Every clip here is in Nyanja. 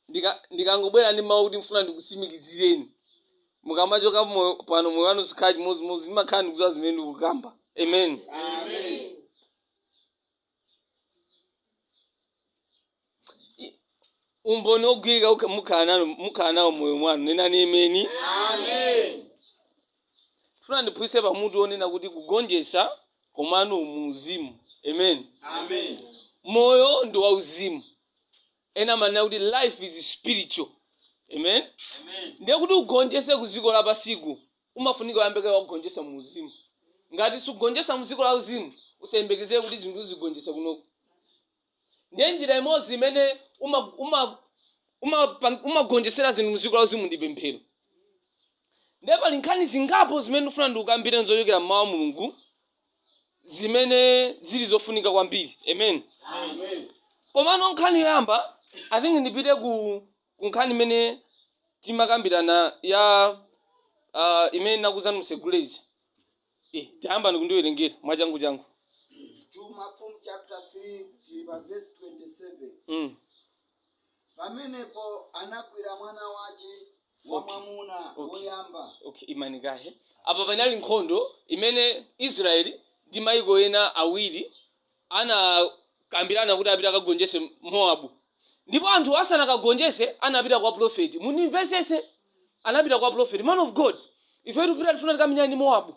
ndika- ndikangobwera ndi mawu kuti ndifuna ndikutsimikizireni mukamachoka moyo- pano moyo wanu sukhala chimodzimodzi ndimakhala ndikudziwa zimene ndikukamba amen I- umboni wogwirika ukha- mukhala nanu- mukhala nawo moyo mwanu nenani ameni Ndifuna ndiphunzitse pa mutu wonena kuti kugonjetsa komano mu uzimu. Amen. Amen. Moyo ndi wa uzimu. Ena amanena kuti life is spiritual. Amen. Amen. Ndiye kuti ugonjetse ku dziko la pansi ku umafunika uyambe kaye wakagonjetsa mu uzimu. Ngati sugonjetsa mu dziko la uzimu usayembekezere kuti zinthu uzigonjetsa kunoko. ndiye njira imodzi imene umagonjetsera uma, uma, uma, umagonjetsera zinthu mdziko la uzimu ndi pemphero ndiye pali nkhani zingapo zimene ndikufuna ndikukambireni zochokera mmawu a mulungu zimene zili zofunika kwambiri amen Amen. komano nkhani yoyamba i think ndipite ku, ku nkhani imene timakambirana ya uh, imene ndinakuuzani msegulation Eh, tayambani kundiwerengera mwachangu changu. 2 Mafumu chapter 3 tili pa verse 27. Mm. Pamenepo anagwira mwana wace wamwamuna Okay. woyamba Okay, imani kaye. Apa panali nkhondo imene Israeli ndi maiko ena awiri anakambirana kuti apite akagonjetse Moabu. Ndipo anthuwo asanakagonjetse, anapita kwa pulofeti. Mundimvetsetse. Anapita kwa pulofeti. Man of God, ife tikupita tifuna tikamenyane ndi Moabu.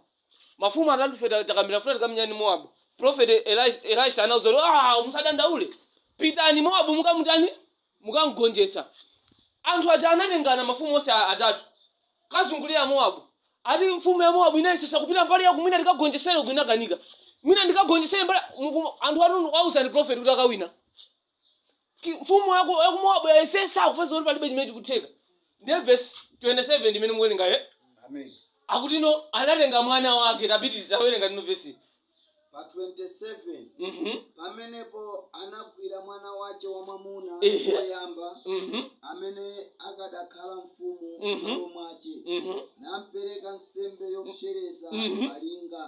Mafumu atatu ife ta- takambirana tifuna tikamenyane ndi Moabu. Pulofeti Elis- Elisha anawauza kuti, "Ah, musadandaule. Pitani Moabu mukamutani? mukamgonjetsa. Anthu aja anatengana, mafumu onse a- atatu, kukazungulira Mowabu. Ati mfumu ya Mowabu inayesetsa kupita mbali ya uku mwina ndikagonjetsere uku inakanika. Mwina ndikagonjetsere mbali muku- anthu anauzidwa ndi prophet kuti akawina. Ki- Mfumu yaku yaku Mowabu yayesetsa kupeza kuti palibe chimene chikutheka. Ndiye verse 27 ndimene mukuwerenga eh? Amen. akuti ndiye anatenga mwana wake tapiti tawerengani timve vesi pa 27 Mhm, pamenepo anagwira mwana wace wamwamuna Ehe. woyamba mhm, amene akadakhala mfumu Mhm. m'malo mwace mhm, nampereka nsembe yopsereza Mhm. palinga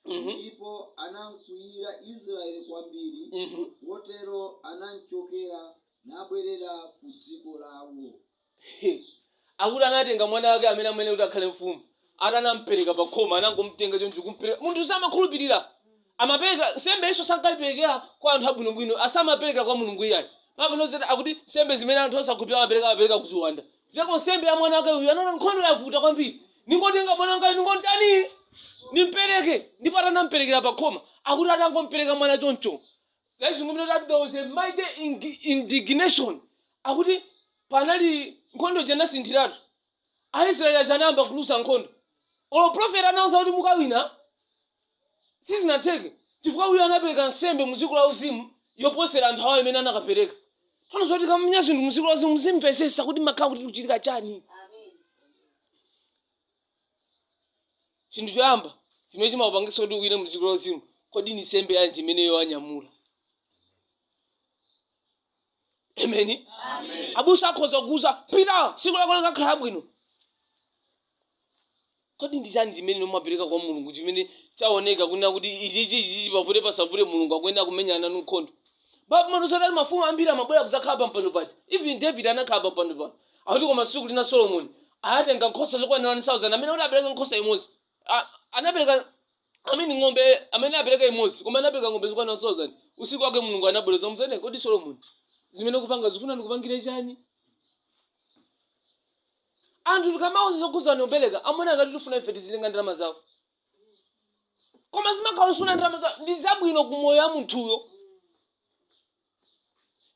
mhm, ndipo anamkwiyira israeli kwambiri mhm. kotero anamchokera nabwerera ku dziko lawo Hehe! Akuti anatenga mwana wake amene amayenera kuti akhale mfumu, ati anampereka pa khoma, anangomtenga choncho kumpereka. Munthu samakhulupirira. Amapereka, nsembe izonso sankaiperekera kwa anthu abwinobwino, samaperekera kwa Mulungu iyayi. Baibulo linatiuza kuti, akuti nsembe zimene anthu osakhulupirira amapereka, amapereka ku ziwanda. Ndipo nsembe ya mwana wake uyu, anaona nkhondo yavuta kwambiri. Ndingotenga mwana wangayu ndingomtani? Ndimpereke. Ndipo ati anamperekera pa khoma. Akuti atangompereka mwana choncho, Ladies and gentlemen, that there was a mighty ing- indignation. Akuti panali nkhondo inasinthiratu. Aisraeli anayamba kuluza nkhondo. Olo prophet anawauza kuti mukawina sizinatheke chifukwa uyu anapereka nsembe mu dziko la uzimu yoposera anthu awo imene anakapereka. Tsono zoti kamenya zinthu mu dziko la uzimu muzimvesesa kuti kumakhala kuti kukuchitika chani. chinthu choyamba chimene chimakupangitsa kuti ukawine mdziko la uzimu kodi ndi nsembe yanji imene iwe wanyamula ameni abusa akhoza kukuuza pita siku lako likakhale bwino kodi ndi chani chimene umapereka kwa mulungu chimene chaoneka kunena kuti ichichi ichichi pavute pasavute mulungu akuyenera kundimenyera nkhondo pa ufumu anauza kuti mafumu ambiri amabwerera kuzakhala pampando paja even david anakhala pampando paja akuti koma tsiku lina solomoni anatenga nkhosa zokwanira 1000 amene kuti apereke nkhosa imodzi A- anapereka amene ng'ombe amene apereka imodzi koma anapereka ng'ombe zokwanira 1000 usiku wake mulungu anabwereza nkunena kodi solomoni zimene ukupanga ukufuna ndikupangire chani anthu tikamawauza zokhudzana nkupereka amaona ngati tikufuna ife tizitenga ndalama zawo koma zimakhala sikufuna ndalama zawo ndi zabwino ku moyo wa munthuyo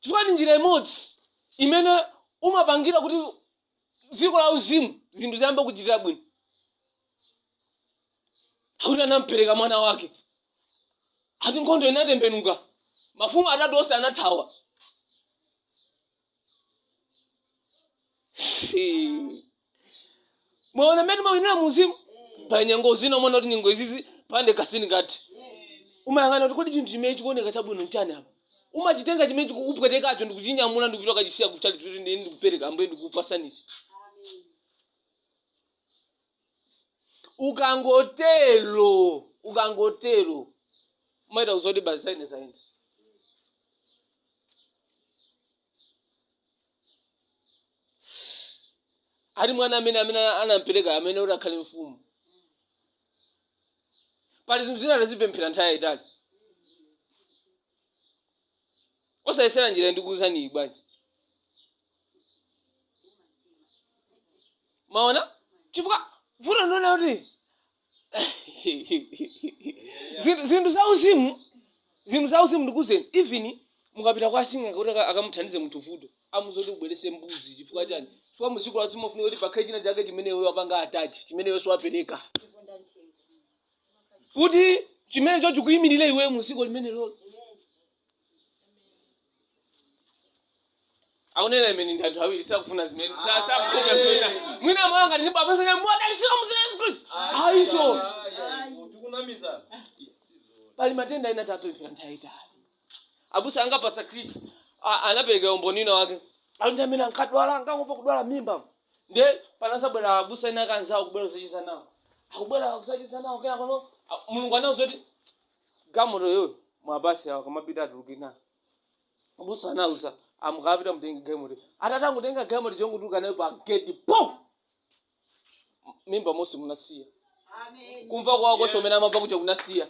chifukwa ndi njira imodzi imene umapangira kuti dziko la uzimu zinthu ziyambe kukuchitira bwino akuti atampereka mwana wake ati nkhondo inatembenuka mafumu atatu onse anathawa mwaona mmene timawinira mu uzimu pa nyengo zina umaona kuti nyengo izizi pandikakasi mkati umayang'ana kuti kodi chinthu chimene chikuoneka chabwino nchani apa umachitenga chimene chikukupwetekacho ndikuchinyamula ndikupita kukachisiya kutchalitchi kuti ndikupereka ambuye ndikupasani ichi ukangotero ukangotero umachita kudziwa kuti basi zayenda zayenda ali mwana amene amene anampereka amene amati akhale mfumu pali zinthu zina tazipemphera nthawi yayitali osayesera njira ndikukuuzaniyi bwanji mwaona chifukwa vuto ndionena kuti zinthu zinthu za uzimu zinthu za uzimu ndikuuzeni even mukapita kwa asing'anga kuti aka- akamuthandize munthu vuto amuuza kuti ubwerese mbuzi chifukwa chani chifukwa muziko la uzimu kufunika kuti pakhale china chake chimene iwe wapanga atachi chimene iwe si wapereka kuti chimenecho chikuyimirire iweyo mu dziko limenelolo akunena imene ndi anthu awiri sakufuna zimene sa- sakufuna zimene mwana wanga ndi baba sanya mwadalisika mu dzina la Yesu Khristu ai so tikunamizana pali matenda ena tapemphera nthawi yaitali abusa anga pasta chris a- anapereka umboni wina wake alipo amene ankadwala ankangomva kudwala mimba nde panazabwera abusa ena akanzawo kubwera kuzachiza nawo akubwera kuzachiza nawo kena pano a- mulungu anauza kuti gamoto yoyo mwabasi awo kamapita atuluke nawo abusa anauza amukapita mutenge gamoto atatangutenga gamoto chongotuluka nayo pa geti po mimba mose munasiya kumva kuwawa konse umene amamva kuja kunasiya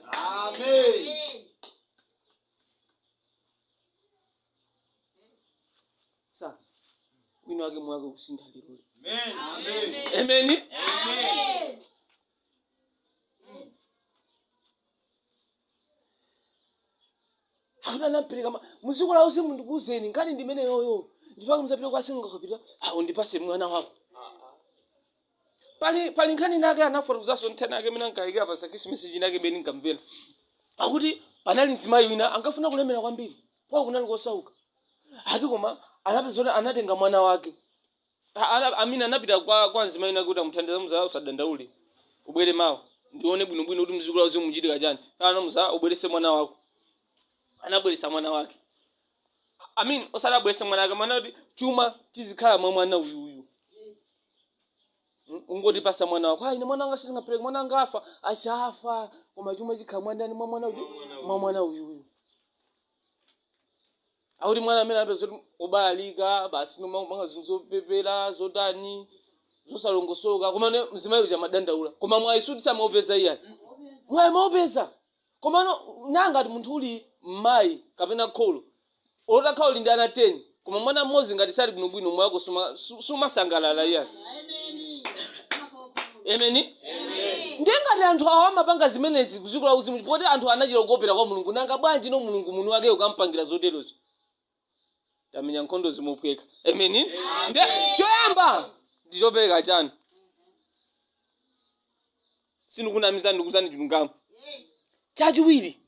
sa wina wake mwake kusintha lero ameni akuti anampereka ma- mu dziko la uzimu ndikuuzeni nkhani ndimene yoyo ndipake mukazapita kwa sing'anga kapita ah undipase mwana wako pali pali nkhani inake anafotokozanso nthano yake imene ankayikira pa khirisimasi chinake imene ndinkamvera akuti panali mzimayi wina ankafuna kulemera kwambiri kwawo kunali kosauka ati koma anapeza kuti anatenga mwana wake A- ana- amina anapita kwa kwa mzimayi wina kuti amuthandize muza usadandaule ubwere mawa ndione bwinobwino kuti mdziko la uzimu muchitika chani kenako amuuza ubwerese mwana wako anabweresa mwana wake I mean osati abwerese mwana wake mwana kuti chuma chizikhala mwa mwana uyu uyu Mm, ungotipasa mwana wako ayi ine mwana wanga sindingapereke mwana wanga afa asafa koma chuma chikhala mwa ndani mwa mwana uyu mwa mwana uyu uyu akuti mwana amene apeza kuti obalalika basi kumapanga zinthu zopepera zotani zosalongosoka komano mzimayi uja amadandaula koma mwayi sikuti samaupeza iyayi mwayi amaupeza komano nanga ngati munthu uli mmayi kapena kholo utakhala uli ndi ana 10 koma mwana mmodzi ngati sali bwinobwino mwa ako suma- su- sumasangalala iyayi emeni ndiye ngati anthu awo amapanga zimenezi ku dziko la uzimu poti anthu anachita kukopera kwa mulungu nanga bwanji no mulungu mwini wake ukampangira zoterozo kumenya nkhondo zimaphweka emeni nde choyamba ndi chopereka chanu sindikunamizani ndikuuzani chilungamo chachiwiri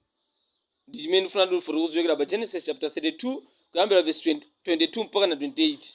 ndi chimene ndifuna ndifotokoze kuchokera pa genesis chapter 32 kuyambira verse 22 mpaka na 28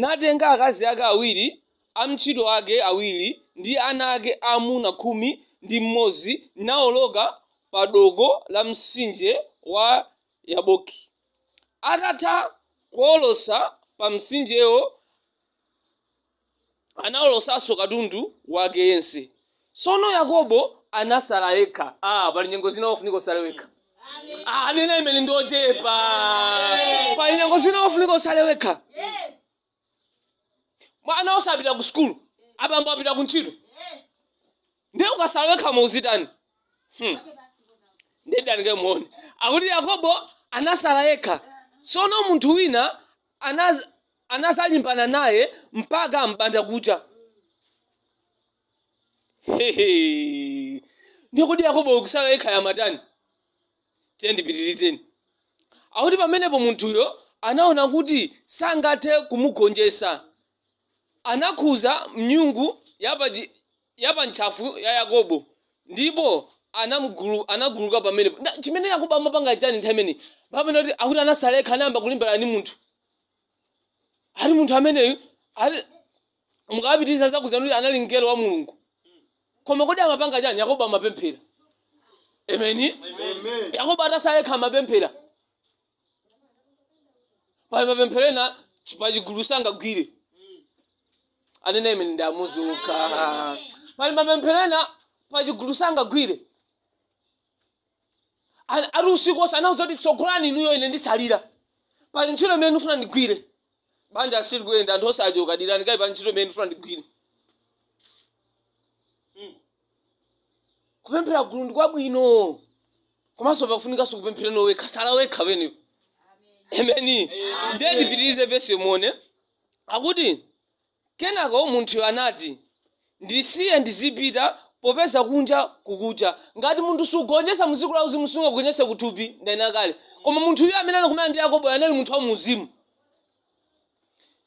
natenga akazi ake awiri, amtchito ake awiri ndi ana ake aamuna khumi ndi mmodzi nawoloka pa dooko la mtsinje wa Yaboki. Atatha kuwolotsa pa mtsinjewo, Anawolotsanso katundu wake yense. Tsono Yakobo anatsala yekha. Ah, pali nyengo zina umafunika utsale wekha. Ah, a nena ameni ndi ochepa. Pali nyengo zina umafunika utsale wekha. Mwana wapita ku sukulu. Abambo apita ku ntchito. ndiye ukasala wekha mumazitani hmm. ndiye dani kaye muone akuti yakobo anasala yekha sono munthu wina anaz, anazalimbana naye mpaka mbanda kucha Hehe. ndiye kuti yakobo akusala yekha amatani tiye ndipitirizeni akuti pamenepo munthuyo anaona kuti sangathe kumugonjetsa Anakhudza nyung'unyu ya pa ntchafu ya Yakobo, ndipo anaguluka pamenepo. Chimene Yakobo amapanga ndi chani nthawi imeneyi? Baibulo likunena kuti akuti anasalekha, anayamba kulimbana ndi munthu. Ati munthu ameneyu, mukapitiriza adzakuuzani kuti anali mngelo wa Mulungu. Koma kodi amapanga chani? Yakobo amapemphera. Ameni. Yakobo atasalekha amapemphera. pali mapemphero ena chi- pa chigulu sangagwire amene imene ndi amodzi okha pali mapemphero ena pa chigulu sangagwire Ani- ali usiku onse anauza kuti tsogolani inuyo ine ndisalira pali ntchito imene ndifuna ndigwire banja asiye liyende anthu onse achoka dikirani kaye pali ntchito imene ndifuna ndigwire kupemphera gulu ndi kwabwino komanso pakufunikanso kupempherano wekha sala wekha wenepo ameni ndiye tipitirize vesi yomweyo akuti kenako munthuyo anati ndisiye ndizipita popeza kunja kukucha ngati munthu sugonjesa mdziko la uzimu sungagonjese kuthupi ndanena kale koma munthu uyu amene anakumana ndi yakobo anali munthu wa muuzimu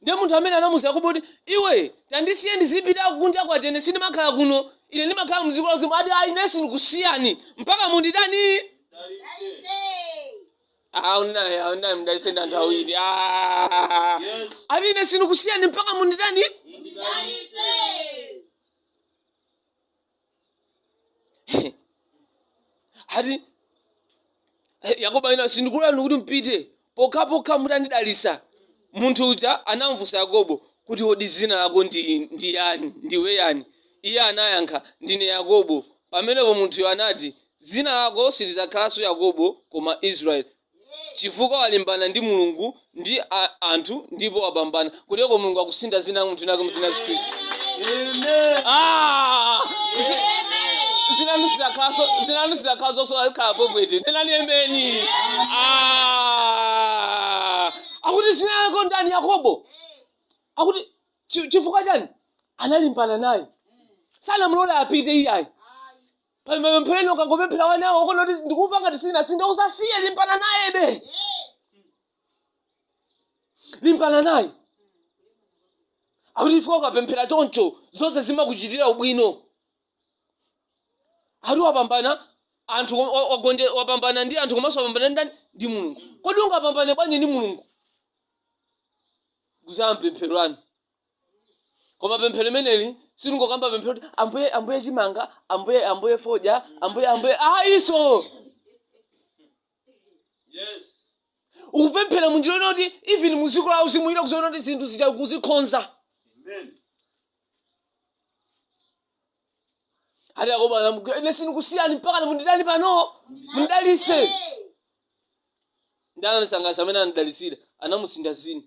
ndiye munthu amene anamuza yakobo kuti iwe tandisiye ndizipita kunja kwacha ine sindimakhala kuno ine ndimakhala mdziko la uzimu ati ayi ine sindikusiyani mpaka munditani aunayi aunayi mdalise ndi anthu awiri Ah. ati ine sindikusiyani mpaka munditani ati eh, yakobo anena sindikulolani kuti mpite pokhapokha mutandidalitsa munthu uja anamfunsa yakobo kuti kodi dzina lako ndi, ndi yani ndiwe yani iye anayankha ndine yakobo pamenepo munthuyo anati dzina lako silidzakhalanso yakobo koma israeli chifukwa walimbana ndi Mulungu ndi a, anthu ndipo wapambana. Kotero Mulungu akusintha dzina la munthu wina mu dzina la Yesu Khristu. Amen. Ah! Zi- Zina lanu silidzakhalanso zina lanu silidzakhalanso so akhala popwete. Nenani ameni. Ah! Akuti zina lako ndani Yakobo? Akuti chi- chifukwa chani? Analimbana naye. Sanamulole apite iyayi. pali mapemphero ena ukangopemphera wanawo ukona kuti ndikumva ngati sinasintha usasiye limbana nayebe limbana naye akuti ifika ukapemphera choncho zonse zimakuchitira ubwino ati wapambana anthu kom- wa- wagonje wapambana ndi anthu komanso wapambana ndi ndani ndi mulungu kodi ungapambane bwanji ndi mulungu kuzama m'pemphero lanu koma pemphero limeneli silingokamba pemphero kuti ambuye ambuye chimanga ambuye ambuye fodya ambuye ambuye ayiso Yes. ukupemphera munjira yonena kuti even muziko la uzimu ina kuziona kuti zinthu zija akuzikonza Amen. ati yakobo anamugwira ine sindikusiyani mpaka munditani pano mundidalise nde ananisangalatsa amene anadalisira anamusintha zina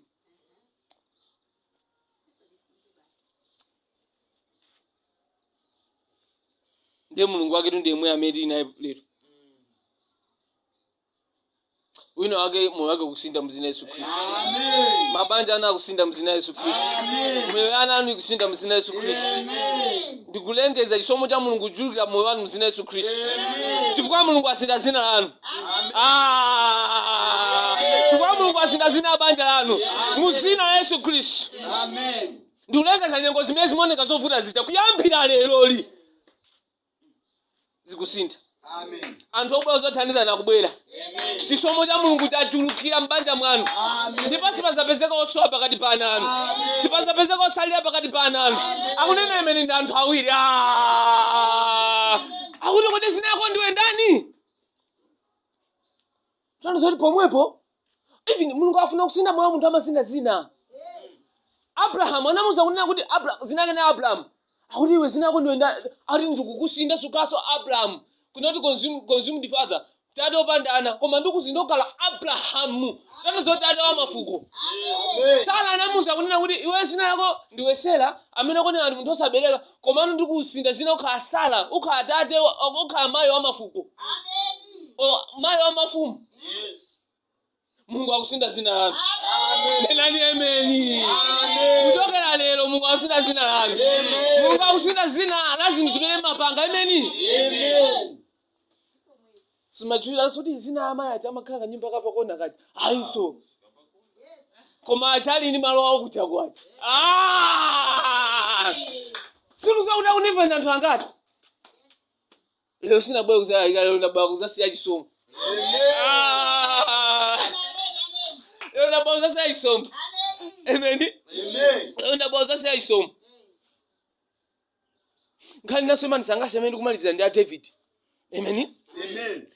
ndiye mulungu waketu ndi yemweyo amene tili naye lero wina wake moyo wake ukusintha mzina yesu khristu Amen. mabanja ana akusintha mzina yesu khristu Amen. miyoyo ya ana anu ikusintha mzina yesu khristu Amen. ndikulengeza chisomo cha mulungu kuchulukira moyo wanu mzina yesu khristu Amen. chifukwa mulungu asintha zina lanu Amen. Ah! chifukwa mulungu asintha zina la banja lanu mu zina la yesu khristu Amen. ndikulengeza nyengo zimene zimaoneka zovuta zija kuyambira leroli zikusintha anthu obwera ozathandizana akubwera chisomo cha mulungu chachulukira m'banja mwanu ndipo sipazapezeka osowa pakati pa ana anu sipazapezeka osalila pakati pa ana anu akunena imene ndi anthu awiri Ah! akuti kodi zina lako ndiwe ndani tanthauzo lake pomwepo even mulungu afuna kusintha moyo wa munthu amasintha zina abrahamu anamuza kunena kuti Abra- zina lake ndi abrahamu akuti iwe zina lako ndiwe nda- akuti ndikukusintha sukhalaso abrahamu kunena kuti consume- consumed father tate opanda ana koma ndikusintha ukhala abrahamu tona zoti tate wa mafuko sara anamuza kunena kuti iwe zina lako ndiwe sera amene akunena kuti munthu osabereka komano ndikusintha zina ukhala sara ukhala tate wa- ukhala mayi wa mafuko O, mayi wa mafumu mulungu akusintha zina lanu nenani emeni kuchokera lero mulungu akusintha zina lanu mulungu akusintha zina la zinthu zimene mumapanga emeni simuzachuliwa zoti zina amayi aja amakhala kanyumba kapakona kaja ayinso koma aja ali ndi malo awo kuja kwa aja Ah! sikuziwa kuti akunimva ndi anthu angati lero sinabwera kuzalalika lero ndabwera kuzasiya chisomo Ah! lero ndabwera kuzasiya chisomo emeni lero ndabwera kuzasiya chisomo nkhani naso imanisangalatsa amene ndikumalizira ndi a david amen Amen.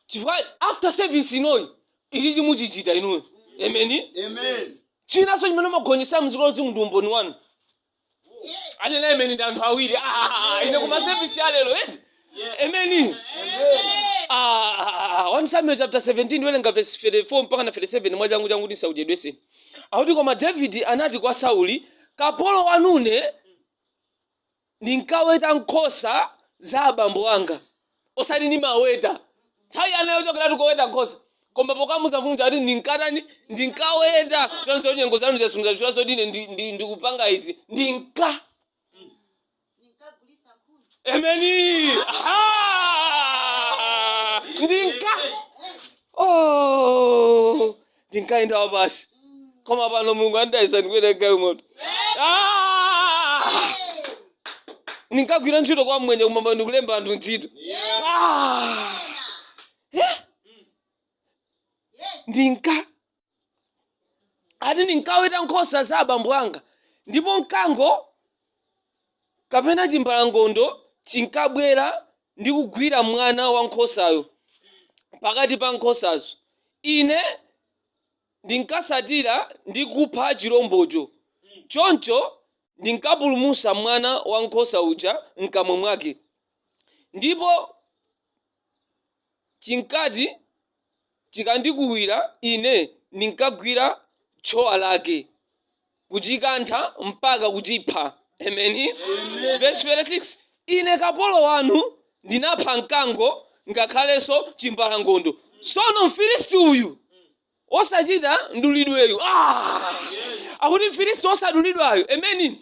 chifukwa after service inoyi ichi chimuchichita inuyo amen Amen. chinaso chimene chimagonjetsa mziko lonse ndi umboni wanu anena amen ndi anthu awiri Ah, ine kuma service ya lero eti Amen. Ah, 1 Samuel chapter 17 welenga verse 34 mpaka na 37 mwachangu changu ndisakuchedweseni. Akuti koma David anati kwa Sauli, kapolo wanune ndinkaweta nkhosa za abambo anga. Osati ni maweta. Thawi anayochokera kokaweta nkhosa. Koma pokamuuza mfumu kuti ndinkatani ndinkaweta. Chonse nyengo zanu zasunza choncho ndine ndi- ndi- ndikupanga izi. Ndinka Ninkagulisa nkhuni. Emeni. Aha! Ndinka. Oh! Ndinkaenda wapansi. Koma pano Mulungu wandalitsa ndikwera galimoto. Ah! Ndinkagwira ntchito kwa mmwenye koma pano ndikulemba anthu ntchito. Ah! Eh? Yes. Ndinka. ati ndinkaweta nkhosa za abambo anga ndipo mkango kapena chimbalangondo chinkabwera ndi kugwira mwana wa nkhosayo pakati pa nkhosazo ine ndinkasatira ndi kupha chilombocho choncho ndinkapulumusa mwana wa nkhosa uja mkamwa mwake ndipo chinkati chikandiukira ine ndinkagwira tchowa lake kuchikantha mpaka kuchipha. Ameni. Vesi 36 ine kapolo wanu ndinapha mkango ngakhalenso chimbalangondo. Tsono Mfilisti uyu wosachita mdulidweyu ah! akuti mfilisti wosadulidwayo emeni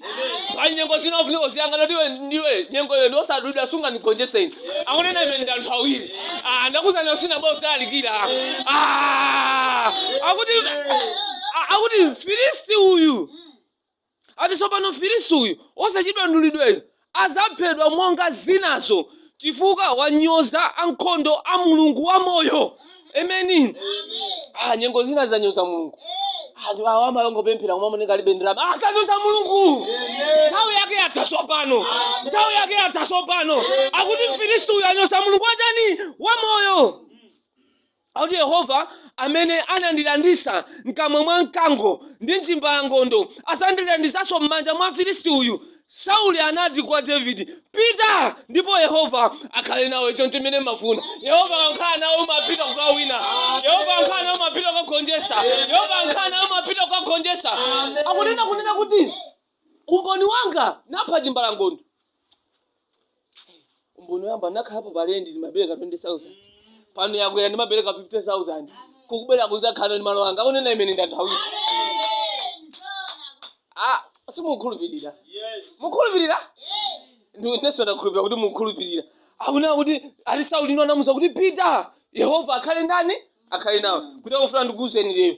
pali nyengo zina zofunika kuziyang'ana kuti iwe ndiwe nyengo iwe ndi wosadulidwa sungandigonjese ine akunena amen ndi anthu awiri Ah, ndakuzana osina bwa osalalikira Ah! akuti a- akuti mfilisti uyu Ati sopano mfilisi uyu wosachita mdulidweyu azaphedwa monga zinazo chifukwa wanyoza ankhondo a mulungu wa moyo amen ah nyengo zina zanyoza mulungu anthu awa amalongopemphera koma amoneka alibe ndalama akunyoza mulungu nthawi yake yatha sopano nthawi yake yatha sopano akuti mfilisi uyu wanyoza mulungu watani wa moyo Akuti Yehova amene anandilanditsa m'kamwa mwa mkango ndi chimbalangondo, adzandilanditsanso m'manja mwa Mfilisti uyu. Sauli anati kwa Davide, Pita, ndipo Yehova akhale nawe. Ndi chokhacho chimene mumafuna. Yehova akakhala nawe umapita kukawina. Yehova akakhala nawe umapita kukagonjetsa. Yehova akakhala nawe umapita kukagonjetsa. Akunena kunena kuti, Umboni wanga napha chimbalangondo. umboni wanga nakhalapo palendi ndimapereka 20000 pano yakwera ndimapereka 50000 kukubera kuzakhala ndi malo anga akunena imene ndathawira ah simukhulupirira mukhulupirira inenso ndakhulupirira kuti mukhulupirira akunena kuti ali sauli uyo anamuuza kuti pita yehova akhale ndani akhale nawe kuti akufuna ndikuuzeni lero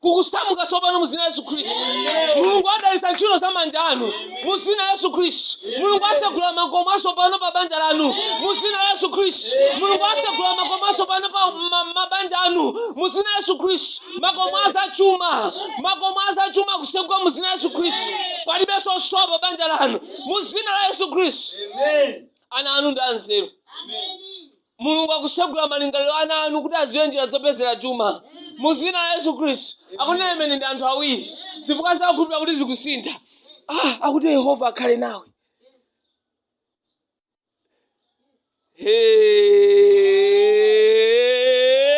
kukusamuka tsopano mu dzina la yesu khristu mulungu adalitsa ntchito za manja anu mu dzina la yesu khristu mulungu asegula makomo atsopano pa banja lanu mu dzina la yesu khristu mulungu asegula makomo atsopano pa ma- mabanja anu mu dzina la yesu khristu makomo azachuma makomo azachuma akuseguka mu dzina la yesu khristu palibe zosowa pa banja lanu mu dzina la yesu khristu ana anu ndi anzeru mulungu akutsegula malingaliro a ana anu kuti aziwe njira zopezera chuma mu zina la yesu khristu akunena imene ndi anthu awiri chifukwa sakukhulupira kuti zikusintha ah, akuti yehova akhale nawe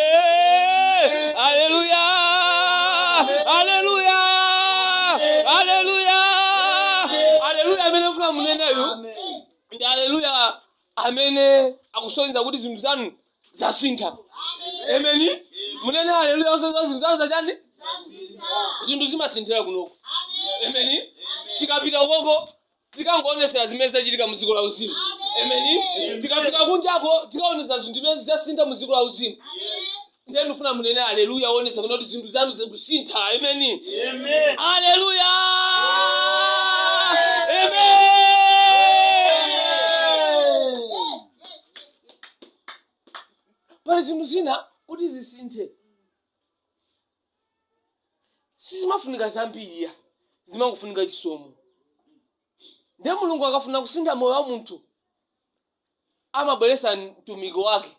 Hey! Hallelujah! Hallelujah! Hallelujah! Hallelujah! Amene mfuna muneneyo ndi haleluya amene akusonyeza kuti zinthu zanu zasintha emeni munene haleluya osonyeza zinthu zanu zachani zinthu zimasinthira kunoko emeni tikapita uko tikangoonetsera zimene zachitika mu dziko la uzimu emeni tikapita kunjako tikaonetsa zinthu zimene zasintha mu dziko la uzimu ndiye ndifuna munene aleluya oonetsa kuti zinthu zanu zikusintha ameni Amen. aleluya Amen. pali zinthu zina kuti zisinthe sizimafunika zambiriya zimangofunika chisomo ndiye mulungu akafuna kusintha moyo wa munthu amabweretsa mtumiki wake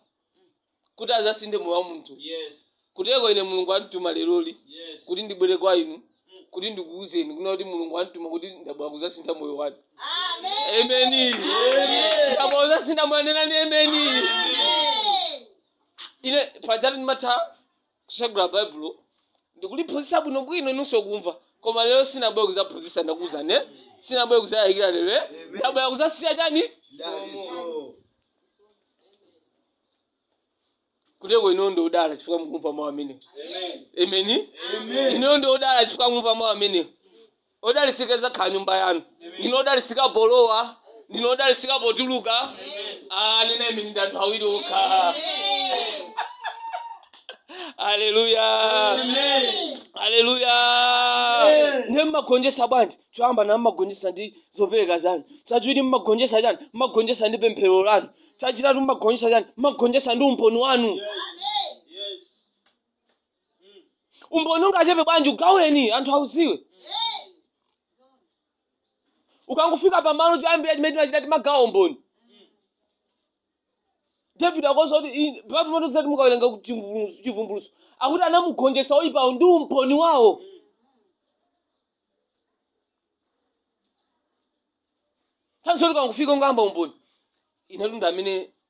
kuti azasinthe moyo wa munthu Yes. kuteko ine mulungu andituma leroli Yes. kuti ndibwere kwa inu kuti ndikuuzeni kunena kuti mulungu andituma kuti ndabwera kuzasintha moyo wanu emeni ndabwera kuzasintha moyo nenani emeni ine pajatu ndimatha kutsegula baibulo ndikuliphunzitsa bwinobwino inunso kumva koma lero sinabwera kudzaphunzitsa ndakuwuzani eh? sinabwera kudzayikira lero eh? ndabwera kudzasiya chani Daliso. kuteko inu ndi odala chifukwa mukumva mawu amenewo Amen. emeni Amen. inu ndi odala chifukwa mukumva mawu amenewo Odalisika izakhala nyumba yanu. Ndinu odalisika polowa, ndinu odalisika potuluka. Ah, anena ameni ndi anthu awiri okha. Haleluya. Haleluya. Ndiye mmagonjesa bwanji? Choyamba ndati mmagonjesa ndi zopereka zanu. Chachiwiri mmagonjesa chani? Mmagonjesa ndi pemphero lanu. Chachitatu mmagonjesa chani? Mmagonjesa ndi umboni wanu. umboni ungachepe bwanji ugaweni anthu auziwe ukangofika pamalo choyambira chimene timachita timagawa umboni david akunena kuti "Ine- patu moto zati mukawerenga ku chivumbulutso- chivumbulutso akuti anamugonjetsa oyipawo ndi umboni wawo tanso ukangofika umayamba umboni inatu ndi amene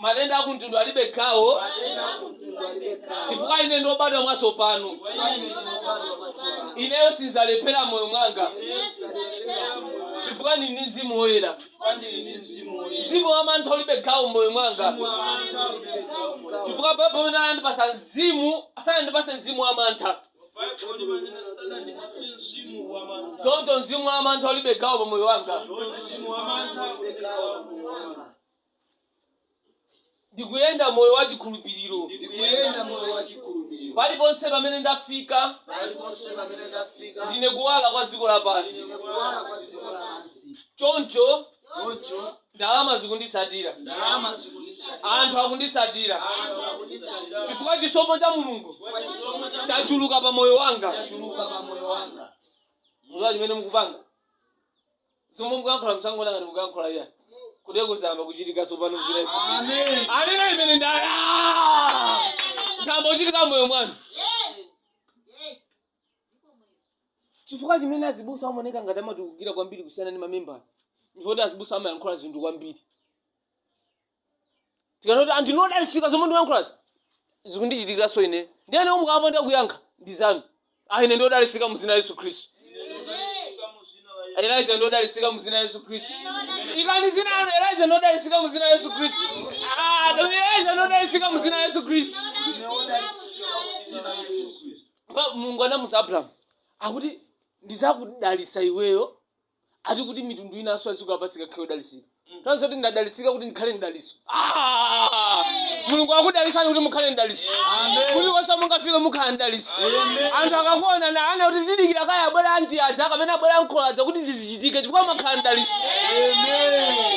Matenda a kumtundu alibe gawo chifukwa ine ndine obadwa mwatsopano. Ineyo sindzalephera m'moyo mwanga chifukwa ndili ndi Mzimu Woyera. Mzimu wa mantha ulibe gawo m'moyo mwanga chifukwa Baibulo pamene anandipasa mzimu sanandipase mzimu wa mantha. Choncho mzimu wa mantha ulibe gawo pa moyo wanga. ndikuyenda moyo wa chikhulupiriro ndikuyenda moyo wa chikhulupiriro paliponse pamene ndafika paliponse pamene ndafika ndine kuwala kwa dziko lapansi ndine kuwala kwa dziko lapansi choncho choncho ndalama zikunditsatira ndalama zikunditsatira anthu akunditsatira anthu akunditsatira chifukwa chisomo cha mulungu chifukwa chisomo cha chachuluka pa moyo wanga chachuluka pa moyo wanga muziwa chimene mukupanga zomwe mukuyankhula musangoona ngati mukuyankhula iya kuteko zayamba kuchitika tsopano mzina yesu Kristu. anena ameni ndiye zayamba kuchitika moyo mwanu chifukwa chimene azibusa amaoneka ngati amatukukira kwambiri kusiyana ndi mamembala ndi choti azibusa amayankhula zinthu kwambiri ndikamati anthu inu odalitsika zomwe ndikuyankhulazi zikundichitikiranso ine ndiye ine mukamba ndi akuyankha ndi zanu ah ine ndiodalitsika mu zina la yesu khristu elija ndodalitsika mu zina la yesu khristu ikani zina lanu elija ndodalitsika mu zina la yesu khristu Ah, elija ndodalitsika mu zina la yesu khristu Pa- mulungu anamuza abrahamu akuti ndizakudalitsa iweyo ati kuti mitundu inanso aziko lapansi ikakhala yodalitsika tanso kuti ndadalitsika kuti ndikhale mdalitso. Ah! mulungu akudalitsani kuti mukhale mdalitso kuti konse mungafike mukhale mdalitso anthu akakuona nanena kuti tidikira kaya abwera anti aja kapena abwera ankolo aja kuti zizichitike chifukwa mwakhala mdalitso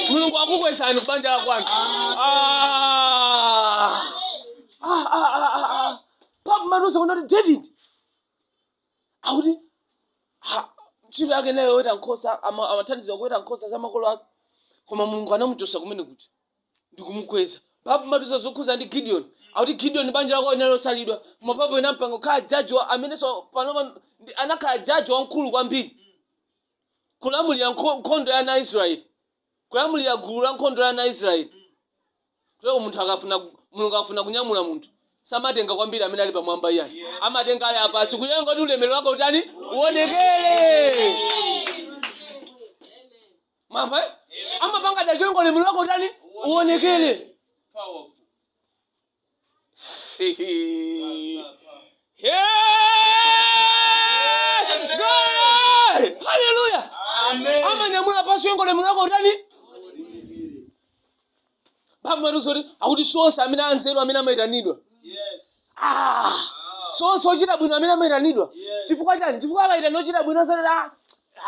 mulungu akukwezani kubanja la kwanu Ah! Ah, ah, ah, ah, ah. papa amatiuza kunena kuti david akuti ha, ntchito yake nayo yoweta nkhosa ama- amathandizira kuweta nkhosa za makolo ake koma mulungu anamuchotsa kumene kuja ndikumukweza papa amatiuza zokhuza ndi gideon akuti gideon banja lake linali losalidwa koma pompo inampanga kukhala jaji wa- amenenso panopa ndi- anakhala jaji wamkulu kwambiri kulamulira nkho- nkhondo ya ana a israeli Kulamulira gulu la nkhondo la ana a Israel. Kuteko munthu akafuna, Mulungu akafuna kunyamula munthu, samatenga kwambiri amene ali pamwamba iyayi. Amatenga ali apansi kuyenga kuti ulemerero wake utani? Uonekere. Mwamva? eh? Amapanga dala kuyenga ulemerero wake utani? Uonekere. Powerful. haleluya amanyamula pansi kuyenga ulemerero wake utani pamaluso kuti akuti si onse amene anzeru amene amayitanidwa Ah, si onse ochita bwino amene amayitanidwa chifukwa chani chifukwa akaitana ochita bwino azati ah,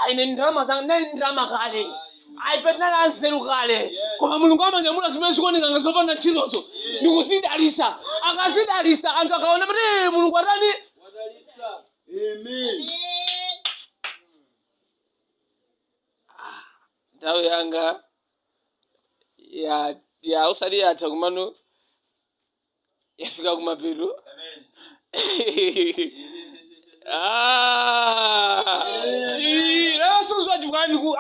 Ayi, ine ndalama zanga ndinali ndi ndalama kale ayi ife tinali anzeru kale koma mulungu amanyamula zimene zikuoneka ngati zopanda ntchitozo ndikuzidalisa akazidalisa anthu akaona kuti "Eh, mulungu atani Wadalitsa. Amen. nthawi yanga ya ya usali yatha kumano yafika kumapeto lero sizochokani ku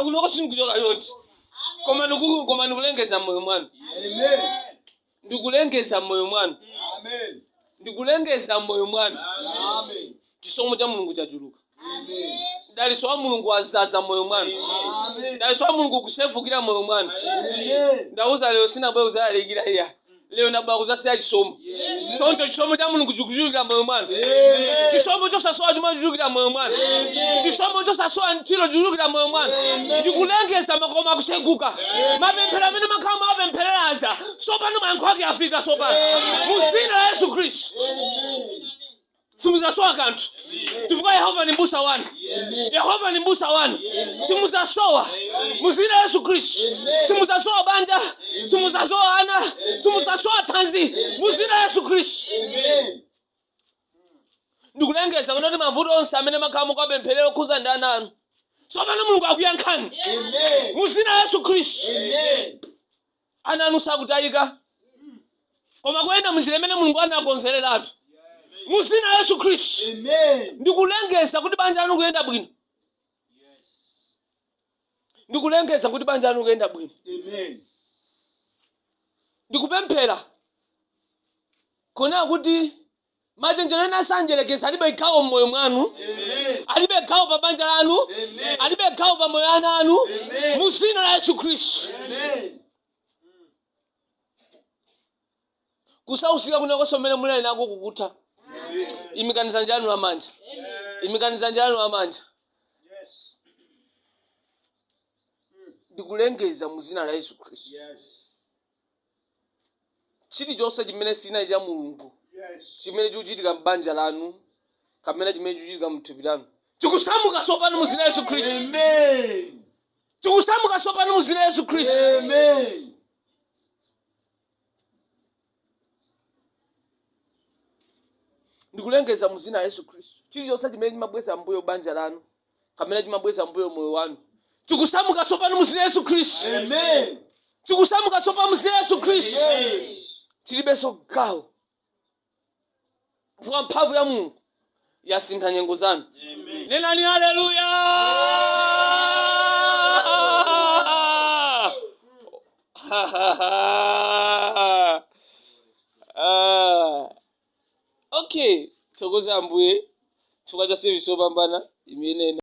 kunoko sinikuchoka yoti koma niku- koma nikulengeza moyo mwanu Amen. ndikulengeza moyo mwanu Amen. ndikulengeza moyo mwanu Amen. chisomo cha mulungu chachuluka mdalitso wa mulungu wazaza moyo mwanu mdalitso wa mulungu ukusefukira moyo mwanu ndauza lero sinabwera kuzalalikira iya lero ndabwera kuzasiya chisomo choncho chisomo cha mulungu chikuchulukira moyo mwanu chisomo chosasowa chuma chikuchulukira moyo mwanu chisomo chosasowa ntchito chikuchulukira moyo mwanu ndikulengeza makomo akuseguka mapemphero amene mwakhala mukuwapempherera aja sopano mayankho ake afika sopano muzina la yesu khristu Simudzasowa kanthu chifukwa Yehova ndi m'busa wanu. Yehova ndi m'busa wanu, simudzasowa. Mu dzina la Yesu Khristu, simudzasowa banja, simudzasowa ana, simudzasowa thanzi. Mu dzina la Yesu Khristu. Ndikulengeza kuti mavuto onse amene mwakhala mukapempherera okhuza ndi ana anu. Tsopano Mulungu akuyankhani. Mu dzina la Yesu Khristu. ana anu sakutayika koma kuyenda munjira imene mulungu anakonzereratu mu zina la yesu khristu ndikulengeza kuti banja lanu kuyenda bwino ndikulengeza kuti banja lanu kuyenda bwino ndikupemphera kunena kuti machenjero ena a mdyerekezi alibe gawo m'moyo mwanu alibe gawo pa banja lanu alibe gawo pa moyo ana anu mu dzina la yesu khristu kusausika kwina konse komwe muli nako kukutha imikani dzanja lanu lamanja imikani dzanja lanu lamanja ndikulengeza mu dzina la yesu khristu chilichonse chimene sichili cha mulungu chimene chikuchitika m'banja lanu kapena chimene chikuchitika mthupi lanu chikusamuka tsopano mu zina la yesu khristu Amen. chikusamuka tsopano mu zina la yesu khristu ndikulengeza mu zina la yesu khristu chilichonse chimene chimabweza mbuyo banja lanu kapena chimabweza mbuyo moyo wanu chikusamuka tsopano muzina yesu khristu chikusamuka tsopano muzina yesu khristu chilibenso gawo chifukwa mphamvu ya mulungu yasintha nyengo zanu nenani haleluya Okay, thokoza Ambuye chifukwa cha service yopambana imene ina-